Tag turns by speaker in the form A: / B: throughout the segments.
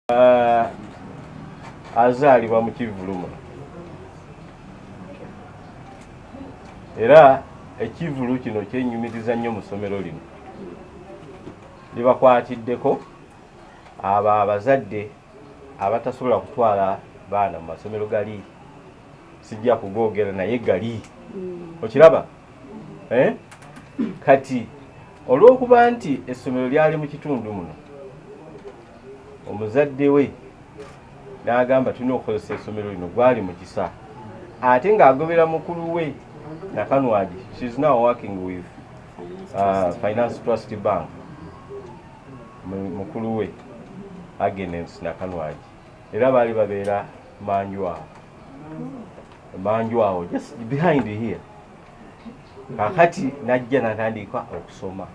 A: Uh, azaalibwa mu kivuluma era ekivulu kino kyenyumiriza nnyo mu ssomero lino libakwatiddeko abo abazadde abatasobola kutwala baana mu masomero gali sijja kugoogera naye gali mm. okiraba eh? kati olw'okuba nti essomero lyali mu kitundu muno omuzadde we n'agamba tulina okukozesa essomero lino gwali mu kisa ate ng'agobera mukulu we nakanwagi shes now working with uh, finance trust bank mukulu we Agnes Nakanwagi era baali babeera manju awo manju awo just behind here kakati najja natandika okusoma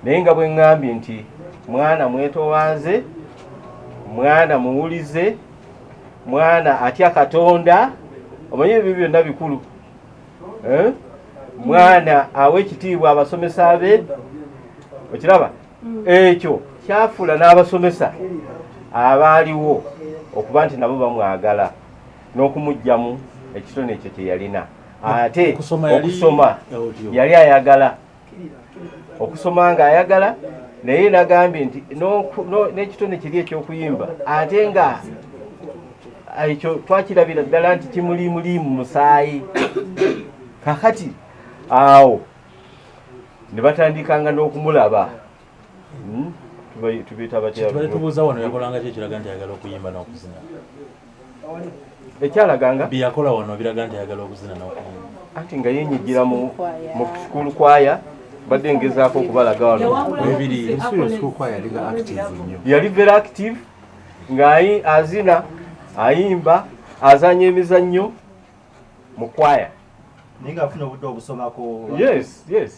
A: naye nga bwe ŋŋambye nti mwana mwetowanze mwana muwulize mwana atya katonda omanyi ebyo byonna bikulu eh? mwana awa ekitiibwa abasomesa be okiraba mm. ekyo kyafuula n'abasomesa abaaliwo okuba nti nabo bamwagala n'okumugyamu ekitone ekyo kyeyalina ate okusoma yali ayagala okusoma nga ayagala naye nagambye nti n'ekitone kiri ekyokuyimba ate nga ekyo twakirabira ddala nti kimulimuliimu musaayi kakati awo ne batandikanga n'okumulaba Hmm? tubuuza wano yakolanga ki
B: ekiraga nti ayagala okuyimba n'okuzina
A: ekyalaganga byeyakola wano biraga
B: nti ayagala okuzina n'okuyimba anti nga yenyigira
A: mu sukulu kwaya badde ngezaako okubalaga wano yali very active nga azina ayimba azanya emizannyo mu kwaya naye nga afuna
C: obudde obusomako yes yes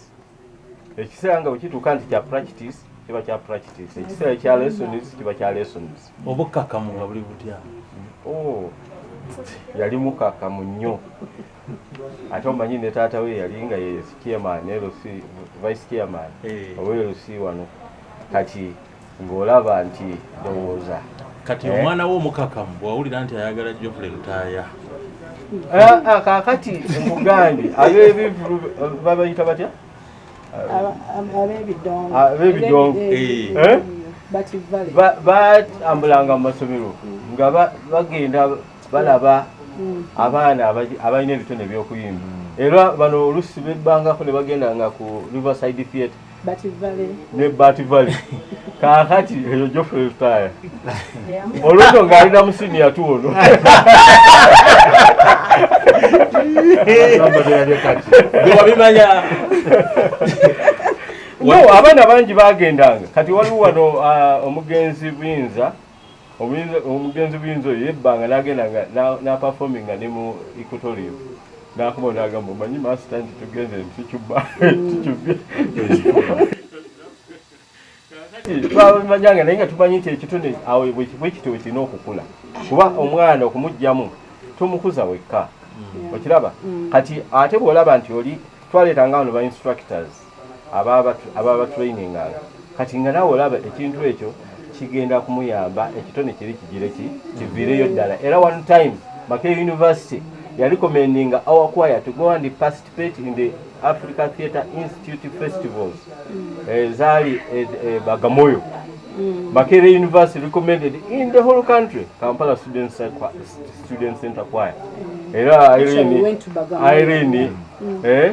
A: ekiseera nga wekituuka nti kya practice kiba kya practice ekiseera ekya lessons kiba kya lessons obukkakkamu nga buli
B: butya oh,
A: yali mukkakkamu nnyo ate omanyi ne taata we yali nga ye chairman lc vice chairman eh. owe lc wano kati ng'olaba nti ndowooza kati eh? omwana
B: wo omukakamu bwawulira nti ayagala jofule lutaaya ah, ah, kakati
A: mugandi abebivulu babayita batya abebidongo batambulanga mu masomero nga bagenda balaba mm. abaana abalina ebitone ebyokuyimba era bano olusi bebbangako ne bagenda nga ku riverside theatre ne bat valley kakati eyo jofre taya oluto ng'alina musini yatuwono wabimanya no abaana bangi bagendanga kati waliwo wano uh, omugenzi buyinza omugenzi buyinza oyo yebbanga nagenda nga naperforminga ne mu equatorium nakuba nagamba omanyi masita nti tugenze ntikicuba tikibi twamanyanga naye nga tumanyi nti ekitone awo bwekitowe kirina okukula kuba omwana okumugjamu tomukuza wekka okiraba kati ate bwolaba nti oli twaleetanga wano ba instructors ababatraininganga kati nga nawe olaba ekintu ekyo kigenda kumuyamba ekitone kiri kigire ki kiviireyo ddala era one time make university yali commendinga our choir to go and participate in the africa theatre institute festivals mm. eh, zaali eh, eh, bagamoyo mm. makere university recommended in the whole country kampala student, student center choir mm. era irene, irene mm. eh,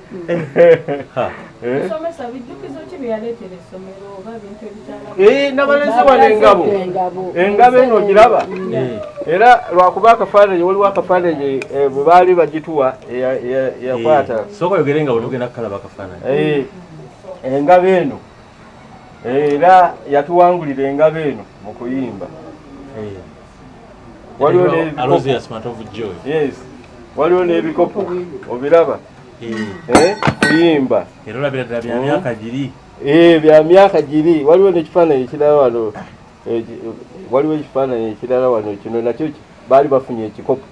A: Eh, nabalenzi wano engabo engabo eno ogiraba eh. era lwakuba akafaananyi waliwo akafaananyi eh, bwe baali bagituwa yakwata soka yogere nga
B: wetugenda kukalaba akafaananyi engabo
A: eno era yatuwangulira engabo eno mu kuyimba
B: waliwo
A: waliwo n'ebikopo obiraba eh, kuyimba era olabira ddala bya myaka
B: hmm? giri eh, bya myaka
A: giri waliwo n'ekifaananyi ekirala wano eh, waliwo ekifaananyi ekirala wano kino nakyo baali bafunye ekikopo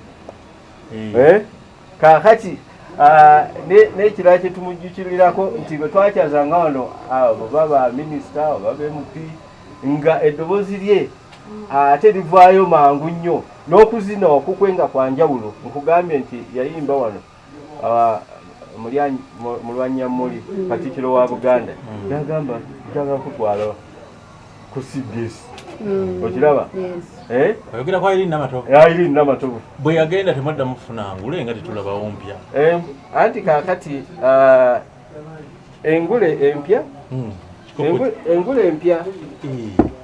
A: kaakati ah, nekirala kyetumujjukirirako nti bwe twakyaza nga wano ah, oba ba minisita oba bmp nga eddoboozi lye ah, ate livaayo mangu nnyo n'okuzina okukwe nga kwa njawulo nkugambye nti yayimba wano mulwanyammuli katikiro wa buganda mm. nagamba njagakutwala ku cbs mm. okiraba eh?
B: oyogera kwa irini namatovu ya irini namatovu
A: bwe yagenda temadda
B: mufuna ngule nga tetulabawo mpya eh, anti
A: kakati ah, engule empya hmm. engule empya eh.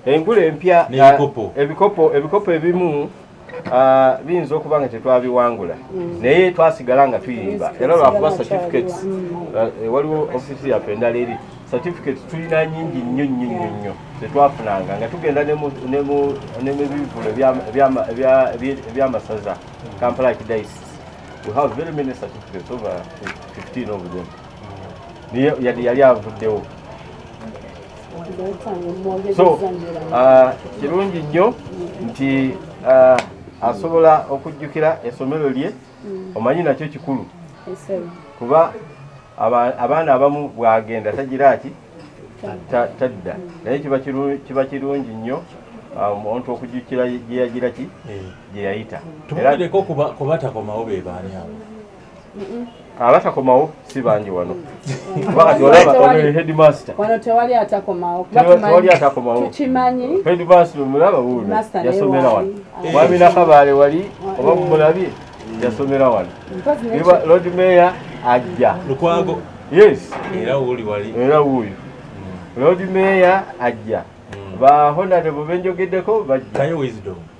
A: engule empya ah, ebikopo ebikopo ebimu Ah, biyinza okuba nga tetwabiwangula mm. naye twasigala nga tuyimba era lwakuba certificates ah, eh, waliwo ofisi yaffe endala eri certificates tulina nyingi nnyo nnyo nnyo nnyo tetwafunanga nga tugenda nemubivulu ebyamasaza kampala kidaisi we have very many certificates over 15 of them mm. yali avuddewo so uh, kirungi nnyo nti uh, asobola okujjukira esomero lye mm. omanyi nakyo kikulu kuba abaana abamu bwagenda tagira ki tadda naye kiba kirungi nnyo Um, omuntu okujukira gyeyagira ki eh. gyeyayita tumugereko
B: kubatakomawo bebaani abo abatakomawo
A: si bangi wano wakati olaba headmaster wano tewali
D: atakomawo kubatewali atakomawo tukimanyi headmaster
A: omulaba wuuno yasomera wano mwami nakabaale wali oba mumulabye yasomera wano lord mayor ajja lukwago
B: yes era
A: wuuli wali
B: era wuuyo
A: lord mayor ajja ba honarebo benjogeddeko bajja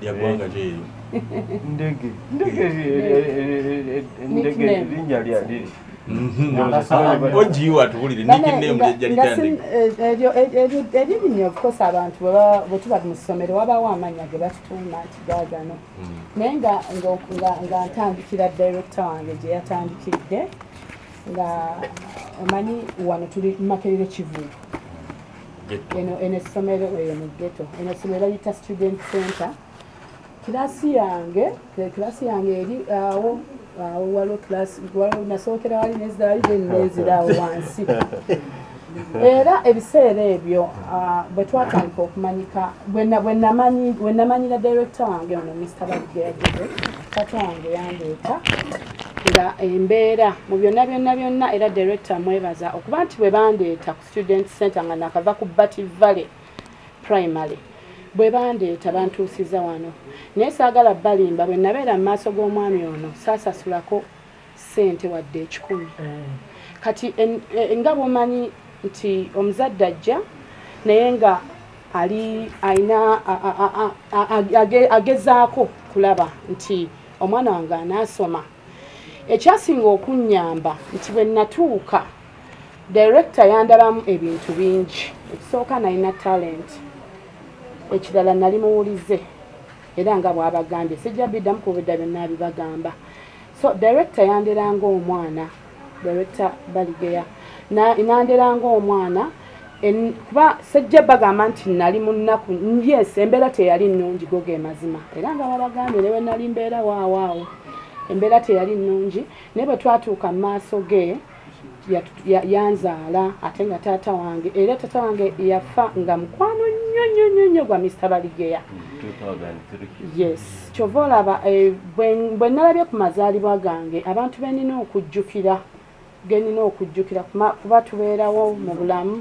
B: lya ggwanga ki eryo? Ndege.
A: Ndege ndege linnya lya liri. Ogiyiwa
B: tubulire nickname jajalitandika. Eryo
D: eryo eryo linnya of course abantu bwe tuba mu ssomero wabaawo amannya ge batutuuma nti gaagano. Hmm. Naye nga nga ntandikira director wange gye yatandikidde nga omanyi wano tuli Makerere Kivuuvu. eno eno essomero eyo mu ghetto eno essomero bayita student center kirasi yange kirasi yange eri awo awo waliwo kirasi waliwo nasookera wali nezidawali then nezira awo wansi era ebiseera ebyo ah, bwe twatandika okumanyika bwe namanyira direkita wange ono mr bageagere kati wange yandeeta nga embeera mu byonna byonna byonna era direkita mwebaza okuba nti bwe bandeeta ku Student Center nga nakava ku Bati Valley Primary bwe bandeeta bantuusiza wano naye saagala balimba bwe nabeera mu maaso g'omwami ono saasasulako ssente wadde ekikumi eh. kati e, nga bwomanyi nti omuzadde ajja naye nga ali alina agezaako kulaba nti omwana wange anaasoma Ekyasinga okunnyamba nti bwe nnatuuka dayirekita yandabamu ebintu bingi. Ekisooka nalina talenti, ekirala nali muwulize era nga bw'abagambye sijja biddamu kuba edda byonna abibagamba. So dayirekita yandera ng'omwana Director Baligeya nandera ng'omwana kuba sejja bagamba nti nali mu nnaku yes embeera teyali nnungi go ge mazima era nga babagambye ne bwe nali mbeera waawaawo embeera teyali nnungi naye bwe twatuuka mu maaso ge yanzaala ate nga taata wange era taata wange yafa nga mukwano nnyo nnyo nnyo nnyo gwa Mr Baligeya yes Kyova olaba bwe nalabye ku mazaalibwa gange abantu benina okujjukira genina okujjukira kuba tubeerawo mu bulamu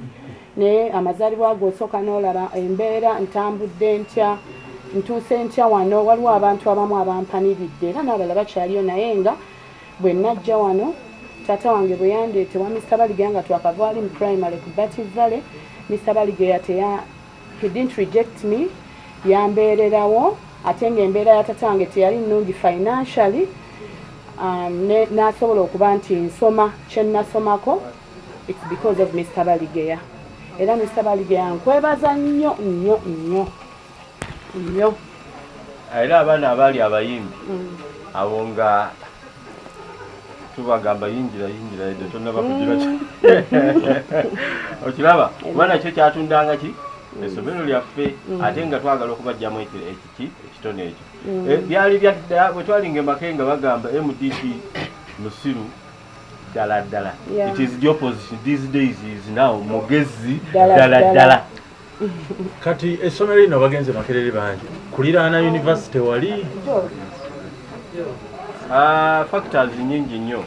D: naye amazaalibwa ago osooka n'olaba embeera ntambudde ntya ntuuse ntya wano waliwo abantu abamu abampaniridde era n'abalala bakyaliyo naye nga bwe najja wano taata wange bwe yandeetewa Mr Baligaya nga twakavaali mu primary ku Batty Valley Mr Baligaya He didn't reject me, yambeererawo ate ng'embeera ya tata wange teyali nnungi financially um, n'asobola okuba nti nsoma kye nnasomako it's because of Mr Baligeya era Mr Baligeya nkwebaza nnyo nnyo nnyo nnyo
A: era abaana abaali abayimbi mm. abo nga tubagamba yingira yingira edde tonaba kugira ki okiraba kuba nakyo kyatundanga ki mm. esomero lyaffe mm. ate nga twagala okubajjamu ekiki ekitone ekyo mm. eh, byali byadda bwe twalinga emake nga bagamba mdp musiru ddala ddala it is the opposition these days is now mugezi ddala ddala kati
B: essomero lino bagenze makerere bangi kuliraana univesity wali
A: ah, factors nyingi nnyo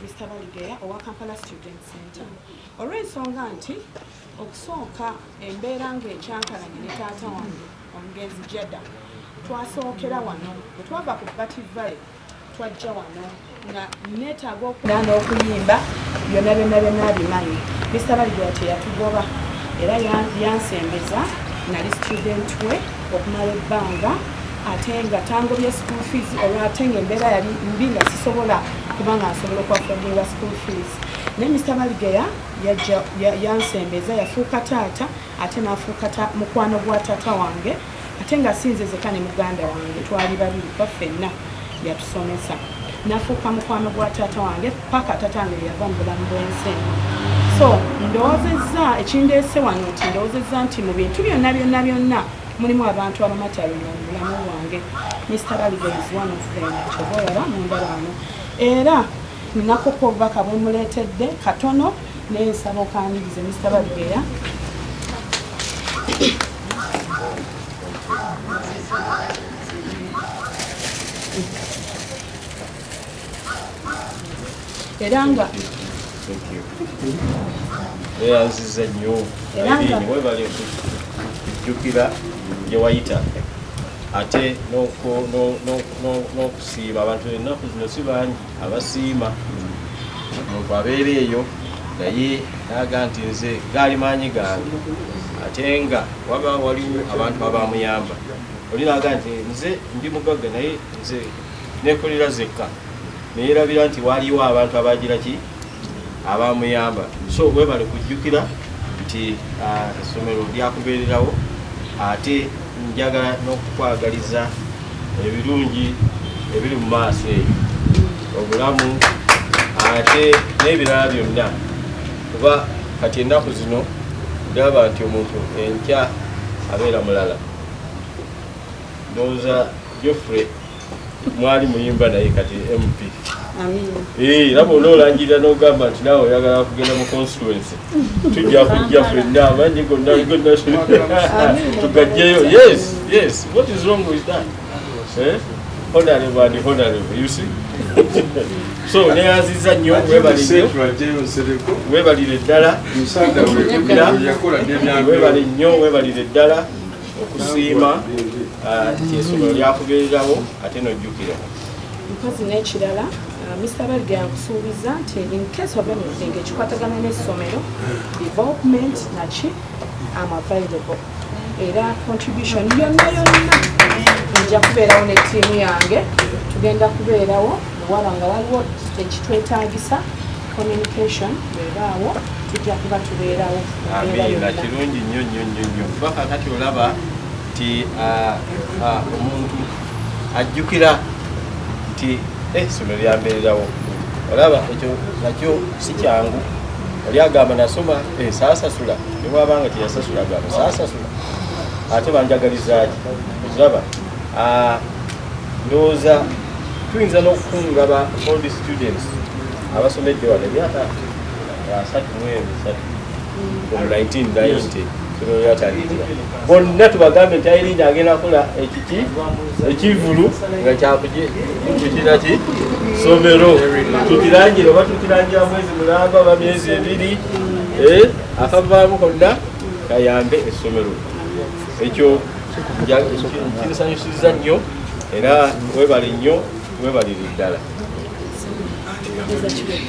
D: Mr. Baligeya owa Kampala Student Center olw'ensonga nti okusooka embeera ng'ekyankalanye ne taata wange omugenzi Jada twasookera wano bwe twava ku Bati Valley twajja wano nga neetaaga okugaa n'okuyimba byonna byonna byonna abimanyi mista baligula teyatugoba era yansembeza nali student we okumala ebbanga ate nga tangobye school fees olwo ate nga embeera yali mbi nga sisobola kuba nga nsobola okuwafodinga school fees naye mista baligeya yansembeza yafuuka taata ya ate nafuuka mukwano gwa tata wange ate nga sinze zeka ne muganda wange twali babiri kuba fenna yatusomesa nafuuka mukwano gwa taata wange paka taata wange yava mu bulamu bwensi eno so ndowozezza ekindeese wano nti ndowozezza nti mu bintu byonna byonna byonna mulimu abantu abamatalina mu bulamu bwange mr baligaizwanofenkyobaolaba mundalaano era ninakoka obubaka bwemuleetedde katono Naye nsaba okanirize Mr. Balugeya. Era
A: nga weyanziza nnyo webale okujjukira gye wayita ate n'okusiiba abantu ennaku zino si bangi abasiima omuntu abeera eyo naye naga nti nze gaali maanyi gange ate nga waba waliwo abantu abamuyamba oli naga nti nze ndi mugagga naye nze nekolera zekka neyerabira nti waliwo abantu abagira ki abamuyamba so webale kujjukira nti ah, essomero lyakubeererawo ate njagala n'okukwagaliza ebirungi ebiri mu maaso eyo obulamu ate n'ebirala byonna kuba kati ennaku zino gaba nti omuntu enkya abeera mulala ndowooza geoffrey mwali muyimba naye kati mp eh, laba onoolangirira n'ogamba nti naawe oyagala kugenda mu constituency tujja kujja fenna amanyi gonna tugajjeyo yes yes what is wrong with that eh? honorable and honorable you see so neyanziza nnyo webalire ddala webale nnyo webalire ddala okusiima ah, nti esomero lyakubeererawo ate nojjukira mukazi
D: n'ekirala ah, Mr. Balga yakusuubiza nti in case of anything ekikwatagana n'essomero development naki am available era contribution yonna yonna nja kubeerawo ne ttiimu yange tugenda kubeerawo muwala nga waliwo ekitwetaagisa communication bwebaawo tujja kuba tubeerawo amiina
A: kirungi nnyo nnyo nnyo nnyo kuba kakati olaba nti ah, ah, omuntu ajjukira nti essomero eh, lyambeererawo olaba ekyo nakyo si kyangu oli agamba nasoma eh, saasasula newabanga teyasasula agamba saasasula ate banjagalizaki okiraba ah, ndowooza tuyinza n'okukunga ba old students abasomedde wano emyaka asatu mwezi satu from 1990 bonna tubagambe nti ayirinda agenda akola ekiki ekivulu nga kyakukiraki somero tukirangire oba tukirangira mwezi mulamba oba myezi ebiri eh, akavaamu konna kayambe essomero ekyo kinsanyusiza nnyo era webale nnyo webalire ddala